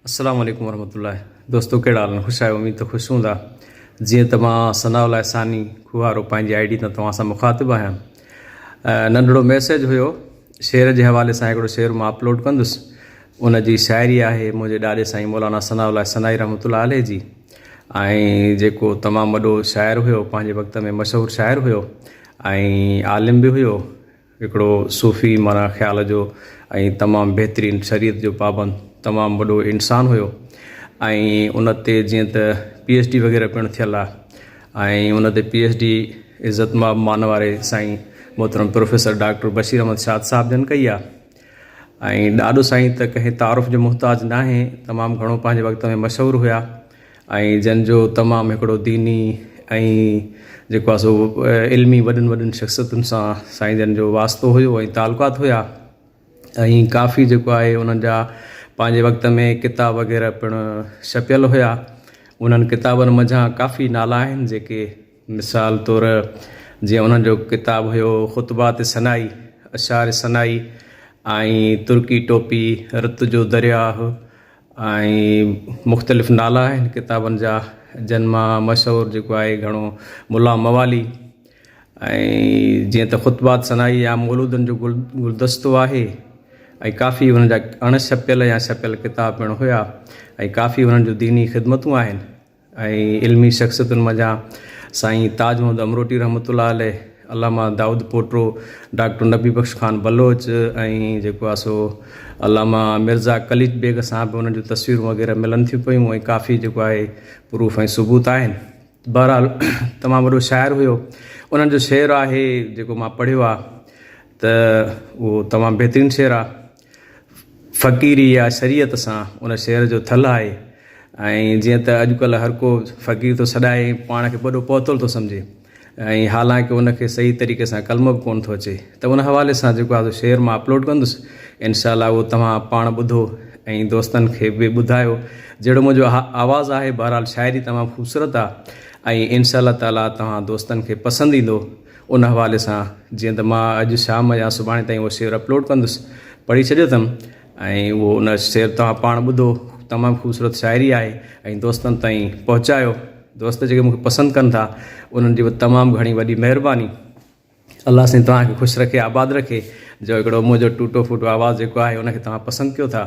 السلام عليڪم ورحمة الله دوستو ڪهڙا حال آهن خوش آهيو اميد ته خوش هوندا جيئن ته مان ثناء الله ثاني کوهارو پنهنجي آئي ڊي تان توهان سان مخاطب آهيان ننڍڙو ميسيج هيو شعر جي حوالي سان هڪڙو شعر مان اپلوڊ ڪندس ان جي شاعري آهي منهنجي ڏاڏي سائين مولانا ثناء الله ثنائي رحمت الله عليه جي ۽ جيڪو تمام وڏو شاعر هيو پنهنجي وقت ۾ مشهور شاعر هيو ۽ عالم به هيو هڪڙو صوفي معنيٰ خيال جو ۽ تمام بهترين شريعت جو پابند تمام وڏو انسان هيو ۽ ان تي جيئن ته پي ايڇ ڊي وغيره پڻ ٿيل آ ۽ ان تي پي ايڇ ڊي عزت ماب مان واري سائين محترم پروفيسر ڊاڪٽر بشير احمد شاد صاحب جن ڪئي آ ۽ ڏاڏو سائين ته ڪنهن تعارف جو محتاج ناهي تمام گهڻو پنهنجي وقت ۾ مشهور هيا. ۽ جن جو تمام هڪڙو ديني ۽ جيڪو آهي سو علمي وڏن وڏن شخصيتن سان سائين جن جو واسطو هيو ۽ تعلقات هيا ۽ ڪافي جيڪو آهي انهن جا پنهنجي وقت ۾ ڪتاب وغيره پڻ ڇپيل هيا انهن ڪتابن منجهان ڪافي نالا آهن جيڪي مثال طور جيئن انهن جو ڪتاب هيو خطبات سنائي اشعار سنائي ۽ ترڪي ٽوپي رت جو درياهه ۽ مختلف نالا آهن ڪتابن جا جن مان مشهور جيڪو آهي گهڻو ملا موالي ۽ جيئن ته خطبات ثنائي يا مولودن جو گل گلدستو آهي ۽ ڪافي انهن جا اڻ ڇپيل يا ڇپيل ڪتاب پڻ هيا ۽ ڪافي انهن جون ديني خدمتون آهن ۽ علمي شخصيتن منجهان سائين تاج محمد امروٽي رحمت الله عليه، علامه دائود پوٽو، ڊاڪٽر نبي بخش خان بلوچ ۽ جيڪو آ سو علامه مرزا قليچ بيگ سان به انهن جون تصويرون وغيره ملن ٿيون پيون ۽ ڪافي جيڪو آهي پروف ۽ ثبوت آهن. بهرحال تمام وڏو شاعر هيو. انهن جو شعر آهي جيڪو مان پڙهيو آ ته اهو تمام بهترين شعر آ. فقيري يا شريعت سان ان شهر جو ٿلهه آهي ۽ جيئن ته اڄڪلهه هر ڪو فقير ٿو سڏائي ۽ پاڻ کي وڏو پهتل ٿو سمجهي ۽ حالانڪه ان کي صحيح طريقي سان ڪلمو به ڪونه ٿو اچي ته ان حوالي سان جيڪو آهي سو شيئر مان اپلوڊ ڪندس انشاء الله اهو توهان پاڻ ٻڌو ۽ دوستن کي به ٻڌايو جهڙو منهنجو آواز آهي بهرحال شاعري تمام خوبصورت آهي ۽ انشاء الله تعالٰي توهان دوستن کي پسند ايندو ان حوالي سان جيئن ته مان اڄ شام يا سڀاڻي تائين اهو شعر اپلوڊ ڪندس. پڙهي ڇڏيو اٿم ۽ اهو ان شعر توهان پاڻ ٻڌو. تمام خوبصورت شاعري آهي ۽ دوستن تائين پهچايو. دوست جيڪي مون کي پسند ڪن ٿا انهن جي به تمام گهڻي وڏي مهرباني. الله سائين توهان کي خوش رکي آباد رکي جو هڪڙو منهنجو ٽوٽو ڦوٽو آواز جيڪو آهي ان کي توهان پسند ڪيو ٿا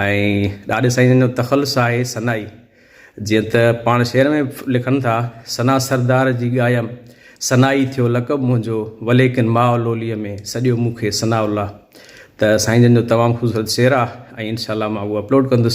۽ ڏاڏي سائين جو تخلص آهي سنائي. جيئن ته پاڻ شعر ۾ به لکن ٿا، ثنا سردار جي ڳايم، ثنا ئي ٿيو لقب منهنجو، وليڪن ماء لوليء ۾ سڏيو مون کي ثناء الله. ته سائين جن جو تمام خوبصورت شعر آ ۽ انشاء الله مان اهو اپلوڊ ڪندس.